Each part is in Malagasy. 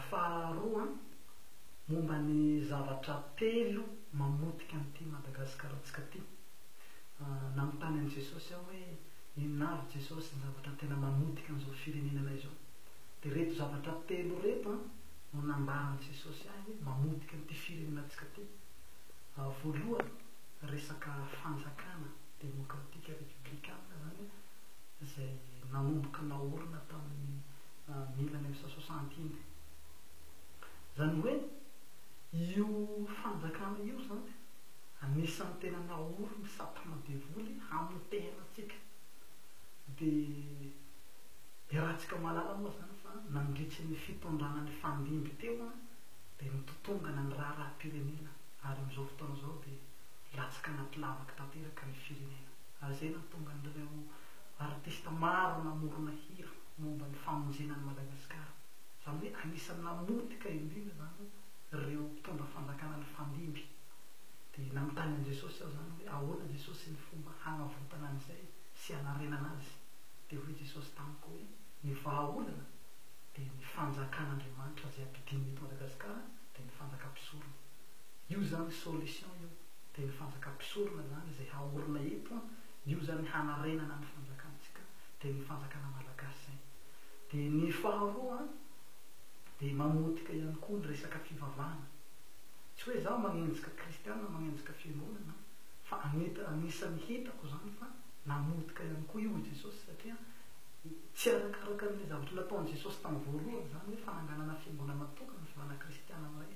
Faharoa, momba ny zavatra telo mamotika an'ity Madagasikara-ntsika ity. Nanontany an'i Jesosy aho hoe, inona avy Jesosy ny zavatra tena mamotika an'izao firenenanay izao? Dia ireto zavatra telo ireto no nambaran'i Jesosy ahy hoe mamotika an'ity firenenantsika ity. Voalohany, resaka fanjakana demokratika repiblikana izany izay nanomboka naorina tamin'ny mille neuf cent soixante iny. Izany hoe io fanjakana io izany anisan'ny tena naory ny satana devoly hamotehana antsika. Dia iarahantsika mahalala moa izany fa nandritry ny fitondrana nifandimby teo dia nitotongana ny raharaham-pirenena ary amin'izao fotoana izao dia latsaka anaty lavaka tanteraka ny firenena. Ary izay no nahatonga an'ireo artista maro namorona hira. momba ny famonjena an'i Madagasikara. Izany hoe anisan'ny namotika indrindra izany ireo mpitondra fanjakana nifandimby. Dia nanontany an'i Jesosy aho izany hoe ahoana Jesosy ny fomba hanavotana an'izay sy hanarenana azy. Dia hoy Jesosy tamiko hoe ny vahaolana dia ny fanjakan'Andriamanitra izay ampidinina eto Madagasikara dia ny fanjakam-pisorona. Io izany solution io. Dia ny fanjakam-pisorona izany izay haorina eto an, io izany hanarenana ny fanjakantsika. dia ny fanjakana malagasy izay. Dia ny faharoa dia mamotika ihany koa ny resaka fivavahana. Tsy hoe izaho manenjika kristiana, manenjika fiangonana fa anisan'ny hitako izany fa namotika ihany koa io i Jesosy satria tsy arakaraka an'ilay zavatra nataon'i Jesosy tamin'ny voalohany izany hoe fananganana fiangonana tokana sy vana kristiana iray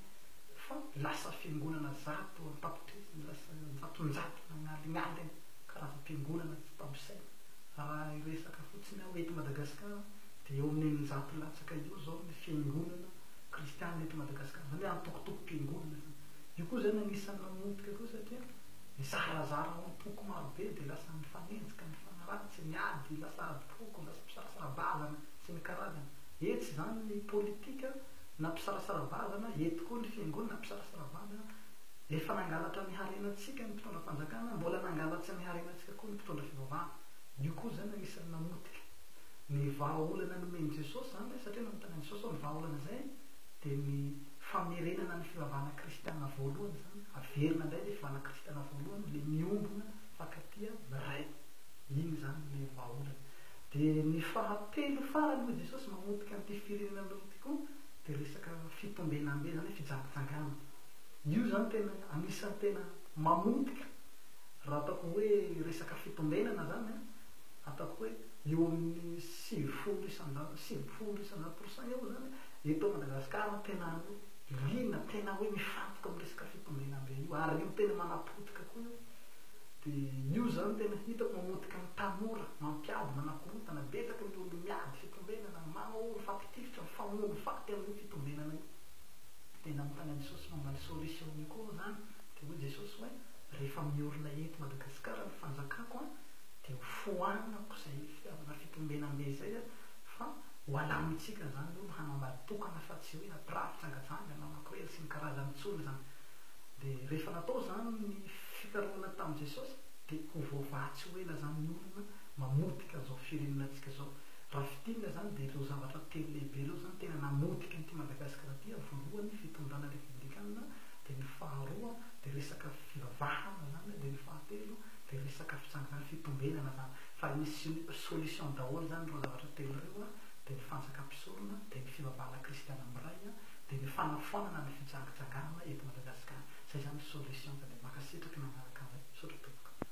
fa lasa fiangonana zato an-tapitrisany, lasa an-jatonjato nagnalingnaly karazam-piangonana tsy tambo saina. Raha hiresaka fotsiny aho eto Madagasikara dia eo amin'ny eninjato latsaka eo izao ny fiangonana kristianina eto Madagasikara, izany hoe antokotoko-piangonana izany. Io koa izany anisan'ny mamotika koa satria mizarazara ao am-poko maro be dia lasa mifanenjika, mifanaratsy, ny ady, lasa adim-poko, lasa mpisarasara-bazana sy ny karazany. Etsy izany ny politika na mpisarasara-bazana, eto koa ny fiangonana mpisarasara-bazana. Efa nangalatra ny harenantsika ny mpitondra fanjakana, mbola nangalatsa ny harenantsika. Tsy akory ny mpitondra fivavahana. Io koa izany anisan'ny namotika ny vahaolana nomen'i Jesosy izany ilay izy, satria nanontany an'i Jesosy hoe ny vahaolana izay dia ny famerenana ny fivavahana kristiana voalohany izany, averina indray ilay fivavahana kristiana voalohany, ilay miombona mifankatia amin'ny Ray. Iny izany ilay vahaolana. Dia ny fahatelo farany hoy Jesosy mamotika an'ity firenena anareo ity koa dia resaka fitombenambe, izany hoe fijangajangana. Io izany tena anisan'ny tena mamotika. Raha ataoko hoe resaka fitondenana izany an, ataoko hoe eo amin'ny sivifolo isanjato, sivy ambin'ny folo isanjato pour cent eo izany eto Madagasikara no tena liana, tena hoe mifantoka amin'ny resaka fitondenana be io, ary io tena manapotika koa io. Dia io izany tena hitako mamotika ny tanora, mampiady, manakorontana, betsaka ny olona miady fitondenana, manao mifampitifitra, mifamono faty amin'io fitondenana io. Dia nanontany an'i Jesosy momba ny solution-ny koa aho izany, dia hoy Jesosy hoe. rehefa miorina eto Madagasikara ny fanjakako an dia ho foanako izay fitiavana fitombenana be izay an fa ho alamintsika izany olo hanao mad tokana fa tsy hoe hampirafy jangajanga na mampirely sy ny karazany intsony izany dia rehefa natao izany ny fikarohana tamin'i Jesosy dia ho voavaha tsy ho ela izany ny olona mamotika an'izao firenenantsika izao raha fintinina izany dia ireo zavatra telo lehibe ireo izany tena namotika an'ity Madagasikara ity an voalohany ny fitondrana repoblikanina dia ny faharoa dia resaka fivavahana zany dia ny fahatelo dia resaka fitsanganana fitombenana zany fa ny solution daholo zany ireo zavatra telo ireo a dia ny fanjaka mpisorona dia ny fivavahana kristiana miray a dia ny fanafoanana ny fijangijangana eto Madagasikara zay zany ny solution ka dia mankasitraka nanaraka anay misaotra tompoko.